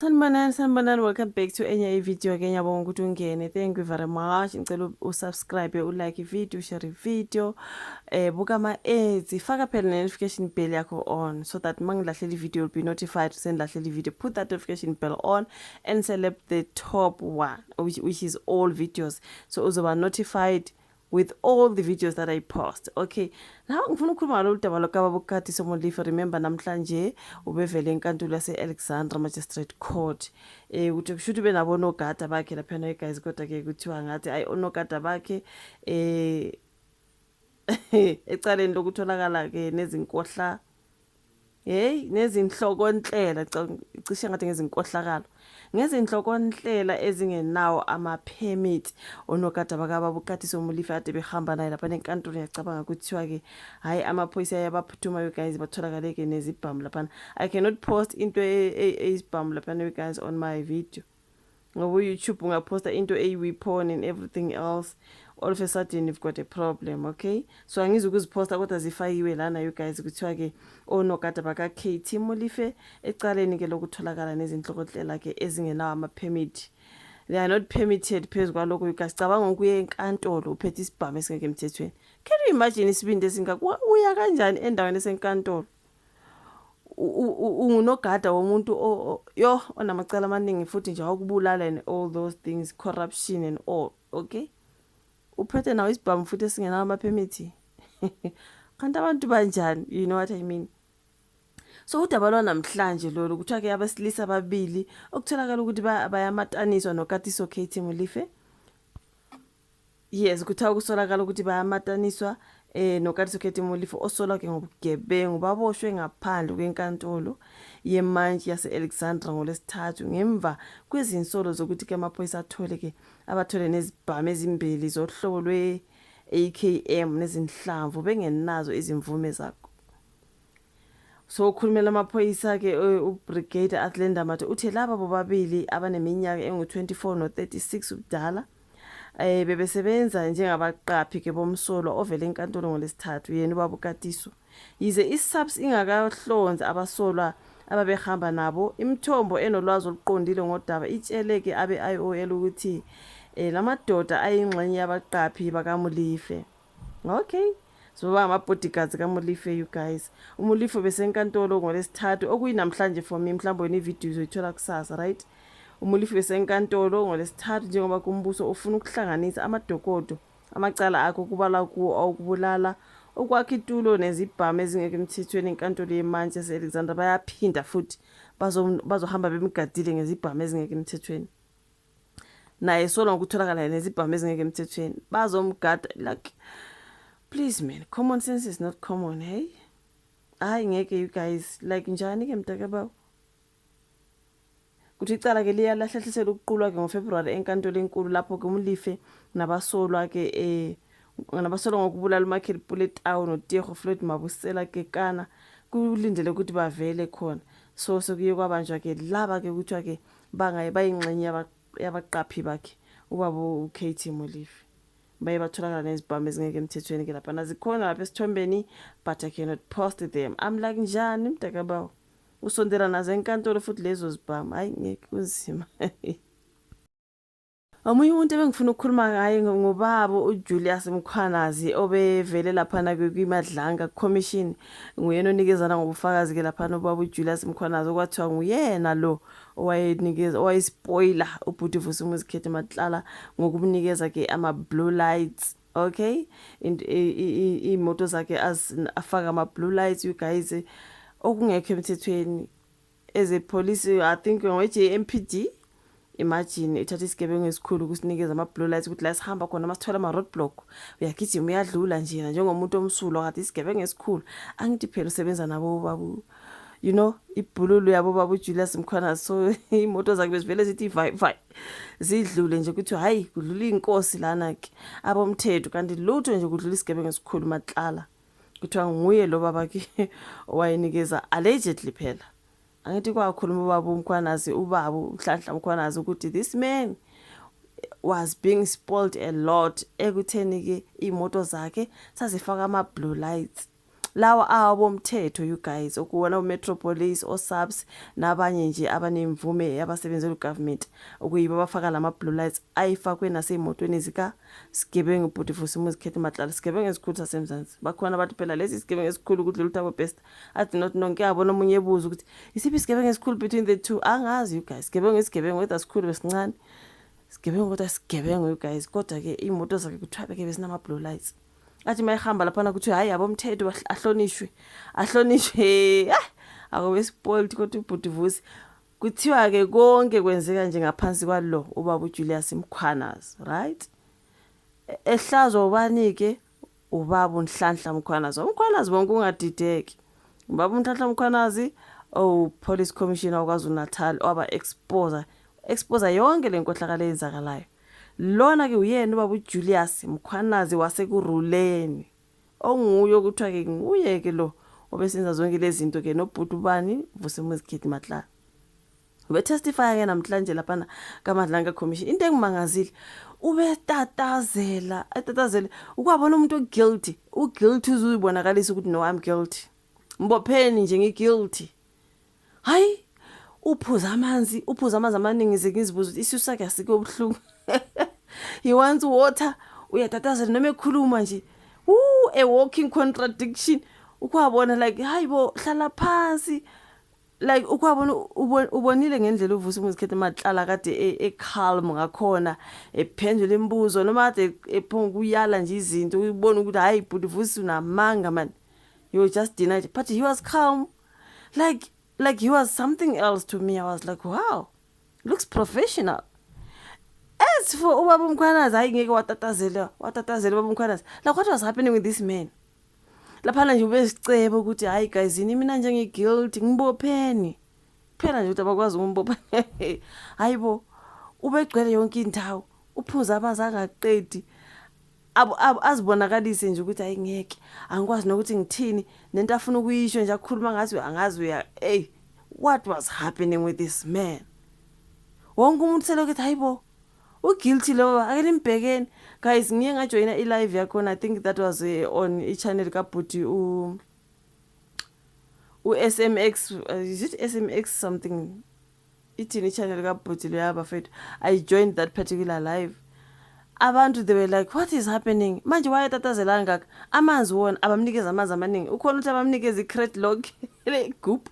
Sanibonani sanibonani welcome back to enye ivideo ke ngiyabonga ukuthi ungene thank you very much ngicela usubscribe ulike ivideo ushare ivideo eh buka ama-ads faka phela ne-notification bell yakho on so that uma ngilahlela ivideo you'll be notified sengilahlela ivideo put that notification bell on and select the top one which, which is all videos so uzoba notified with all the videos that I post okay now ngifuna ukukhuluma ngalolu daba lokaba bukati somolifa remember namhlanje ubevele enkantolo yase-alexandra magistrate court eh ukuthi kusho ukuthi benabo nogada bakhe laphana eguys kodwa ke kuthiwa ngathi ayi onogada bakhe eh ecaleni lokutholakala ke nezinkohla Hey nezinhlokonhlela cishe ngathi ngezinkohlakalo ngezinhlokonhlela ezingenawo ama-permit onogada bakababa uqathise umulifi ade behamba naye lapha nenkantolo ngiyacabanga kuthiwa-ke hhayi amaphoyisa ayabaphuthumayo guys batholakale-ke nezibhamu laphana i cannot post into eyisibhamu e, e, laphana guys on my video ngoba uyoutube ungaphosta into eyiwiphon and everything else all of a sudden you've got a problem okay so angizi ukuziphosta kodwa zifakiwe lana you guys kuthiwa-ke onogada baka-kt molife ecaleni-ke lokutholakala nezinhlokotlela-ke ezingenawo ama-permit they are not permitted phezu kwalokho you guys cabanga ukuya enkantolo uphethe isibhamu esingekho emthethweni can you imagine isibindi esingaka uya kanjani endaweni esenkantolo ungunogada womuntu yo onamacala amaningi futhi nje wakubulala and all those things corruption and all okay uphethe nawo isibhamu futhi esingenawo amaphemithi kanti abantu banjani you know what i mean so udaba lwanamhlanje lolu kuthiwa ke abesilisa ababili okutholakala ukuthi bayamataniswa nokatiso kt mulife yes kuthiwa kusolakala ukuthi bayamataniswa eh noKatiso Khethi Molifo osolwa ke ngobugebengu baboshwe ngaphandle kwenkantolo yemantshi yase-Alexandra ngolesithathu ngemva kwezinsolo zokuthi ke amaphoyisa athole ke abathole nezibhamu ezimbili zohlobo lwe-AKM nezinhlamvu bengenazo izimvume zakho So ukhulumela amaphoyisa-ke eh, uBrigadier Athley Ndamati uthe laba bobabili abaneminyaka engu-24 no-36 ubudala eh bebesebenza njengabaqaphi ke bomsolwa ovele enkantolo ngolesithathu yena ubaba uKatiso yize iSAPS ingakahlonzi abasolwa ababehamba nabo imithombo enolwazi oluqondile ngodaba itshele ke abe-IOL ukuthi eh lamadoda ayingxenye yabaqaphi bakaMulife Okay. Sizoba ngama-bodyguards kaMolife you guys. UMolife besenkantolo ngolesithathu okuyinamhlanje for me mhlawumbe wena ividiyo uzoyithola kusasa right? UMolife besenkantolo ngolesithathu njengoba kumbuso ufuna ukuhlanganisa amadokodo amacala akhe okubala kuwo awokubulala okwakha itulo nezibhamu ezingekho emthethweni enkantolo yemantshi yase-alexandra bayaphinda futhi bazohamba bemgadile ngezibhamu ezingekho emthethweni naye sola ngokutholakala nezibhamu ezingeke emthethweni bazomgada like please man common sense is not common hey hayi ngeke you guys like njani ke mntaka bawo kuthi icala ke liyalahlehlisela ukuqulwa ke ngofebruwari enkantolo enkulu lapho ke umlife nabasolwa ke eh nabasolwa ngokubulala umichael puletawu notiego floyd mabusela kekana kulindele ukuthi bavele khona so sekuye kwabanjwa ke laba ke kuthiwa ke Bangaye bayingxenye yabaqaphi bakhe ubaba ukt Molefe baye batholakala nezibhamu ezingeke emthethweni ke laphana zikhona lapha esithombeni but i cannot post them i'm like njani mntakabawo usondela nazo enkantolo futhi lezo zibhamu hayi ngeke kunzima Omunye umuntu ebengifuna ukukhuluma ngaye ngobaba uJulius Mkhwanazi obevele laphana kwiMadlanga Commission nguyena onikezana ngobufakazi ke laphana ubaba uJulius Mkhwanazi okwathiwa nguyena lo owayenikeza owayespoiler ubhuti Vusumuzi Khethi Matlala ngokumnikeza ke ama blue lights okay imoto zakhe afaka ama blue lights you guys okungekho emthethweni as a police i think ngowe-jmpd imagine ithatha isigebengu esikhulu kusinikeza ama-blue lights ukuthi la sihamba khona uma sithola ama-road block uyagijima uyadlula njena njengomuntu omsulwa kade isigebengu esikhulu angithi phela usebenza nabo babu you know ibhululu yabo babu Julius Mkhwana so imoto zakhe bezivele zithi vai vai zidlule nje ukuthi hayi kudlula inkosi lana ke abomthetho kanti lutho nje kudlula isigebengu esikhulu matlala kuthiwa nguye lo baba ke owayenikeza allegedly phela angithi kwakhuluma ubaba umkhwanazi ubaba uhlanhla umkhwanazi ukuthi this man was being spoiled a lot ekutheni ke imoto zakhe sazifaka ama blue lights lawa awomthetho you guys okuwona umetropolis osubs nabanye nje abanemvume yabasebenzela ugovernment okuyibo abafaka lama blue lights ayifakwe nasemotweni zika Sigebengu bhuti for simuzi khethe matlala sigebengu esikhulu sasemzansi bakhona abantu phela lesi sigebengu esikhulu ukudlula uthabo best i do not know ngiyabona omunye ebuza ukuthi isiphi isigebengu esikhulu between the two angazi you guys sigebengu isigebengu whether sikhulu besincane sigebengu kodwa sigebengu you guys kodwa ke imoto zakhe kuthiwa beke besinama blue lights athi mayihamba laphana kuthiwa hayi yabo mthetho ahlonishwe ahlonishwe ah akube spoiled kodwa ubhuti vusi Kuthiwa-ke konke kwenzeka nje ngaphansi kwalo ubaba uJulius Mkhwanazi, right? E, ehlazwa ubani-ke? Ubaba uNhlanhla Mkhwanazi. UMkhwanazi bonke ungadideki. Ubaba uNhlanhla Mkhwanazi owu-police commissioner waKwaZulu-Natal waba-exposa exposa yonke le nkohlakalo eyenzakalayo. Lona-ke uyena ubaba uJulius Mkhwanazi wasekuruleni. onguye okuthiwa ke nguye ke lo obesenza zonke lezinto ke nobhuti ubani vusemuzi kid matla ubetestifya ke namhlanje laphana kamadlanga commission into engimangazile ubetatazela atatazele ukwabona umuntu oguilty uguilty uzuyibonakalisa ukuthi no i'm guilty mbopheni nje ngiGuilty hayi uphuza amanzi uphuza amanzi amaningi ze ngizibuza ukuthi isisu sakhe asike obuhlungu he wants water uyatatazela noma ekhuluma nje Ooh, a walking contradiction ukwabona like hayi bo hlala phansi like ukwabona ubonile ngendlela uvusa umuzikhethe mahlala kade e, e calm ngakhona ephendula imibuzo noma kade e, ephonga kuyala nje izinto ubona ukuthi hayi bhuti vusa unamanga man you just denied but he was calm like like he was something else to me i was like wow looks professional as for ubaba umkhwanazi hayi ngeke watatazela watatazela ubaba umkhwanazi like what was happening with this man laphana nje ubesiceba ukuthi hayi guys yini mina njenge-guilt ngibopheni kuphela nje ukuthi abakwazi ukumbopha hayi bo ubegcwele yonke indawo uphuza amanzi angaqedi azibonakalise nje ukuthi hayi ngeke angikwazi nokuthi ngithini nento afuna ukuyisho nje akhuluma ngathi angazi uya hey what was happening with this man wonke umuntu selokhu ethi hayibo uguilty lowo ake nimbhekeni guys ngiye ngajoyina i-live yakhona i think that was eh, on i-channel kabhuti u-smx uh, is it smx something ithini ichannel kabhuti loya bafethu i joined that particular live abantu they were like what is happening manje wayetatazela kangaka amanzi wona abamnikeza amanzi amaningi ukhona ukuthi abamnikeza i-crate log le-goop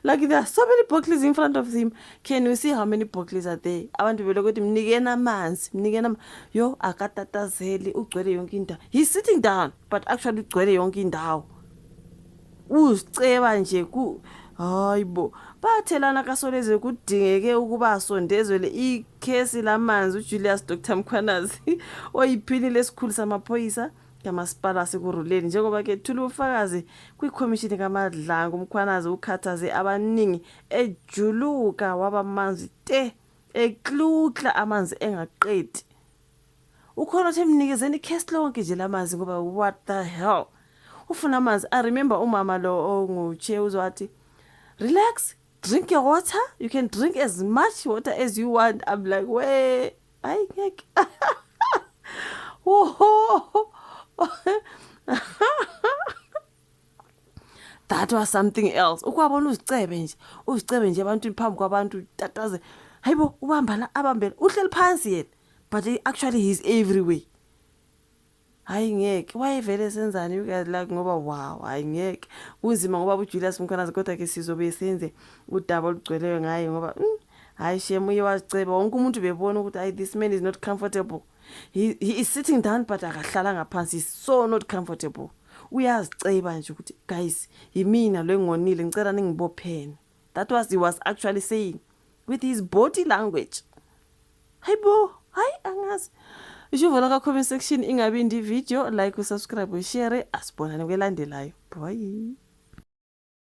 like there are so many bottles in front of him can you see how many bottles are there abantu belokhu ukuthi mnikeni amanzi mnikeni yo akatatazeli ugcwele yonke indawo he's sitting down but actually ugcwele yonke indawo uziceba nje ku hayi bo bathelana kasolezwe kudingeke ukuba asondezwele ikhesi lamanzi ujulius dr mkhwanazi oyiphini lesikhulu samaphoyisa kamasipala wasekuruleni njengoba ke thula ubufakazi kwikhomishini kamadlango umkhwanazi ukhathaze abaningi ejuluka wabamanzi te ekluhla amanzi engaqedi ukhona othe mnikezeni ikhesi lonke nje lamanzi ngoba what the hell ufuna amanzi i remember umama lo ongutshe uzwathi relax drink your water you can drink as much water as you want i'm like we ayi ngeke that was something else ukwabona uzicebe nje uzicebe nje abantu phambi kwabantu tataze hayibo ubambana abambela uhleli phansi yena but actually he's everywhere hayi ngeke wayevele senzani you guys like ngoba wow hayi ngeke kunzima ngoba ujulius mkhwanazi kodwa ke sizobe senze udaba olugcweleyo ngaye ngoba mm, hayi shem uye waziceba wonke umuntu bebona ukuthi hayi this man is not comfortable he, he is sitting down but akahlalanga phansi is so not comfortable uyaziceba nje ukuthi guys yimina lo engonile ngicela ningibophene that was he was actually saying with his body language hayi bo hayi angazi ishuvola ka-comment section ingabi ndi video like usubscribe ushare asibonane kwelandelayo bye